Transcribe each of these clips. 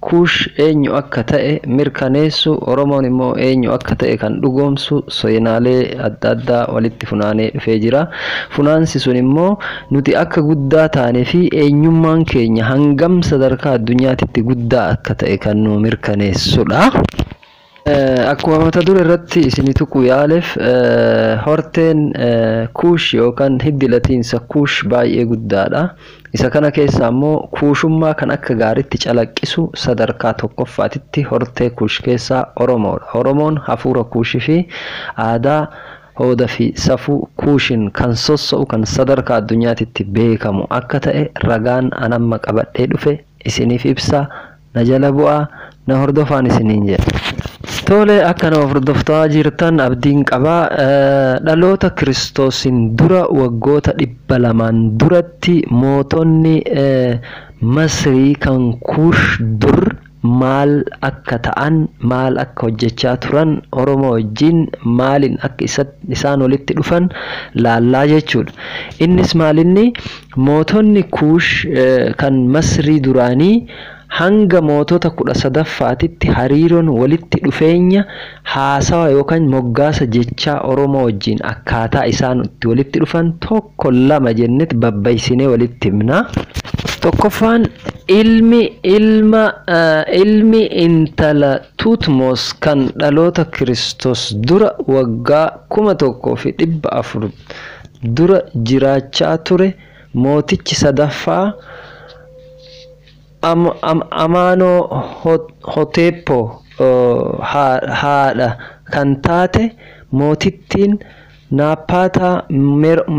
Kuush eenyu akka ta'e mirkaneessu, Oromoon immoo eenyu akka ta'e kan dhugoomsu seenaalee adda addaa walitti funaanee dhufee jira. Funaansi sun immoo nuti akka guddaa taane fi eenyummaan keenya hangam sadarkaa addunyaatitti guddaa akka ta'e kan nuu mirkaneessudha. Akkuma mata dure irratti isini tuquu yaalef horteen Kuush yookan hiddi latiinsa Kuush baay'ee guddaadha. Isa kana keessaa immoo Kuushummaa kan akka gaaritti calaqqisu sadarkaa tokkoffaatitti hortee Kuush keessaa Oromoodha. Oromoon hafuura Kuush fi aadaa, hooda fi safuu Kuushin kan sosso'u kan sadarkaa addunyaatitti beekamu akka ta'e ragaan an amma qabadhee dhufe isiniif ibsa. Na jala bu'aa na hordofaan isiniin jedha. Tole akka na hordoftaa jirtan abdiin qaba. Dhaloota Kiristoosiin dura waggoota dhibba lamaan duratti mootonni Masrii kan Kuush dur maal akka ta'an, maal akka hojjechaa turan, Oromoo wajjin maaliin akka isaan walitti dhufan laallaa jechuudha. Innis maalinni Mootonni Kuush kan Masrii duraanii hanga mootota 13ffaatitti hariiroon walitti dhufeenya haasawa yookaan moggaasa jechaa Oromoo wajjin akkaataa isaan itti walitti dhufan tokko lama jennet babbaysinee walitti himna. Tokkoffaan ilmi ilma ilmi intala Tuutmos kan dhaloota Kiristoos dura waggaa 1400 dura jiraachaa ture mootichi sadaffaa Amaanoohoteepo haadha kan taate mootittiin Naappaataa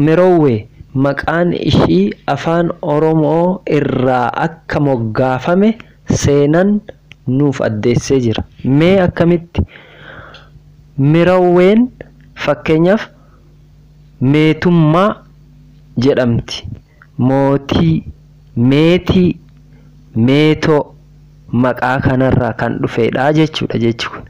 Merowwee maqaan ishii Afaan Oromoo irraa akka moggaafame seenan nuuf addeessee jira. Mee akkamitti? Merowween fakkeenyaaf. Meetummaa jedhamti. Mootii, meetii, meetoo maqaa kanarraa kan dhufeedha jechuudha jechi kun.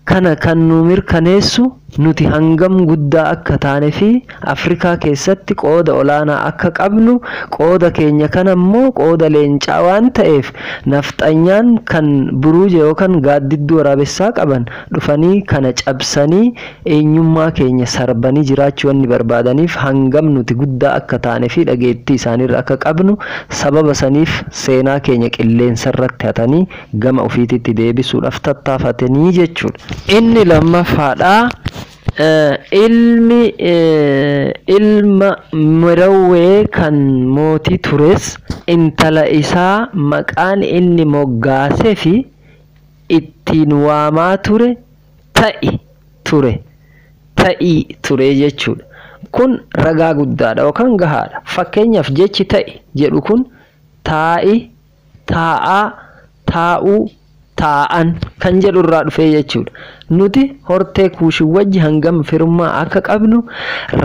Kana kan nuu mirkaneessu nuti hangam guddaa akka taanefi Afrikaa keessatti qooda olaanaa akka qabnu qooda keenya kanammoo qooda leencaa waan ta'eef nafxanyaan kan buruuja yookan gaaddidduu waraabessaa qaban dhufanii kana cabsanii Eenyummaa keenya sarbanii jiraachuu wanni barbaadaniif hangam nuti guddaa akka taane fi dhageettii isaaniirra akka qabnu sababa saniif seenaa keenya qilleensarratti hatanii gama ufiititti deebisuudhaaf tattaafatanii jechuudha. Inni lammaffaadha, ilmi ilma Merawwee kan mootii tures intala isaa maqaan inni moggaaseefi ittiin waamaa ture Ta'i, ture. Ta'i, ture jechuudha. Kun ragaa guddaadha yookaan gahaadha. Fakkeenyaaf jechi ta'i jedhu kun taa'i, taa'aa, taa'uu, taa'an kan jedhu irraa dhufee jechuudha. Nuti hortee Kuushin wajji hangam firummaa akka qabnu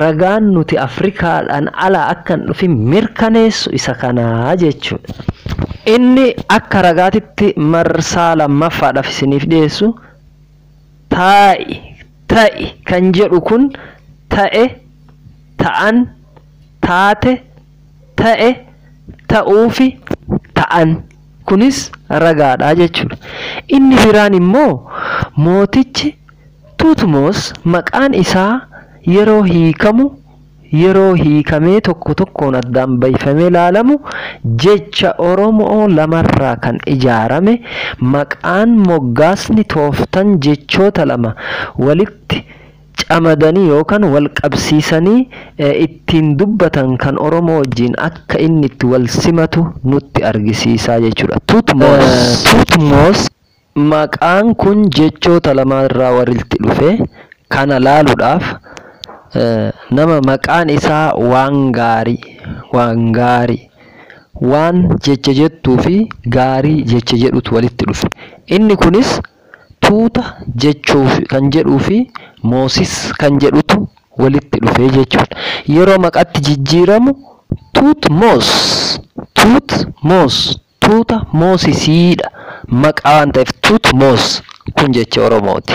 ragaan nuti Afrikaadhaan ala akka hin dhufin mirkaneessu isa kana jechuudha. Inni akka ragaatitti marsaa lammaffaadhaaf isiniif dhiyeessu taa'i, ta'i kan jedhu kun ta'e, ta'an, taate, ta'e, ta'uufi ta'an kunis ragaadha jechuudha. Inni biraan immoo mootichi Tuutmoos maqaan isaa yeroo hiikamu, yeroo hiikamee tokko tokkoon addaan bayfamee laalamu jecha Oromoo lamarraa kan ijaarame maqaan, moggaasni, tooftan jechoota lama walitti camadanii yookan walqabsiisanii ittiin dubbatan kan Oromoo wajjiin akka inni itti walsimatu nutti argisiisa jechuudha. Thutmose. Thutmose Maqaan kun jechoota lamaa irraa walitti dhufe. Kana laaluudhaaf nama maqaan isaa Waangaarii, Waangaarii, Waan jecha jettuu fi Gaarii jecha jedhutu walitti dhufe. Inni kunis tuuta jechuu kan jedhuu fi Moosis kan jedhutu walitti dhufe jechuudha. Yeroo maqatti jijjiiramu Tuutmoos, Tuutmoos Tuuta Moosisiidha. Maqaa waan ta'eef Tutmos kun jecha Oromooti.